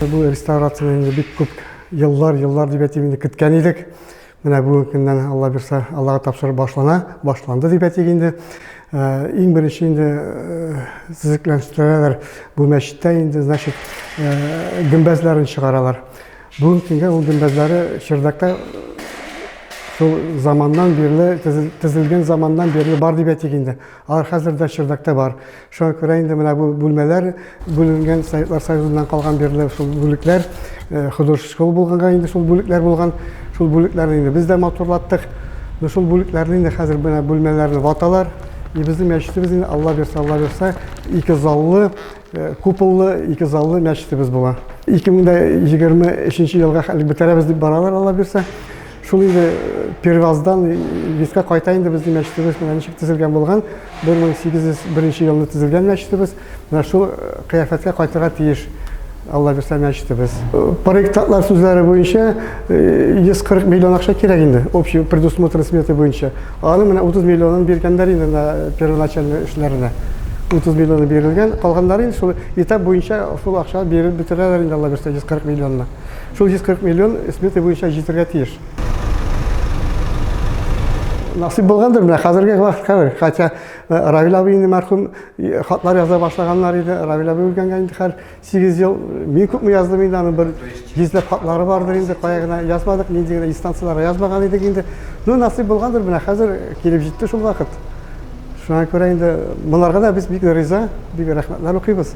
Бу реставрацияне инде бик күп еллар, еллар дип әйтим инде көткән идек. Менә бүгенге көннән Алла бирсә, Аллага тапшырып башлана, башланды дип әйтик инде. Э, иң беренче инде э, төзекләндерәләр бу мәчеттә инде, значит, э, гөмбәзләрен чыгаралар. Бүгенге көнгә ул гөмбәзләре Чердакта шул заманнан бирле, тезелгән заманнан бирле бар дип әйтик инде. Алар хәзер дә чердакта бар. Шуңа күрә инде менә бу бүлмәләр бүленгән Советлар Союзыннан калган бирле шул бүлекләр э, художество школа булганга инде шул бүлекләр булган. Шул бүлекләрне инде без дә матурлаттык. Ну шул бүлекләрне инде хәзер менә бүлмәләрне ваталар. И безнең мәчетебез инде Алла бирсә, Алла бирсә, ике заллы, э, куполлы, ике заллы мәчетебез була. 2023 елга хәлек бетерәбез дип баралар Алла бирсә. Шул инде Перваздан Лиска кайта инде безнең мәчетебез менә ничек төзелгән булган. 1801 елны төзелгән мәчетебез. Менә шул кыяфәткә кайтырга тиеш. Алла бирсә мәчетебез. Проектлар сүзләре буенча 140 миллион акча кирәк инде. Общий предусмотр сметы буенча. Аны менә 30 миллионын биргәннәр инде на первоначальный эшләренә. 30 миллионы бирелгән. Калганнары инде шул этап буенча шул акча биреп бетерәләр инде Алла бирсә 140 миллионны. Шул 140 миллион смета буенча җитәргә тиеш. Насыйп булгандыр, менә хәзерге вакыт хәзер. Хотя Равил абый инде мәрхүм хатлар яза башлаганнар иде. Равил абый үлгәнгә инде хәр 8 ел. Мин күпме яздым инде аның бер йөзләп хатлары бардыр инде. Кая гына язмадык, нинди генә инстанцияләргә язмаган идек инде. Ну, насыйп булгандыр, менә хәзер килеп җитте шул вакыт. Шуңа күрә инде монарга да без бик риза, бик рәхмәтләр укыйбыз.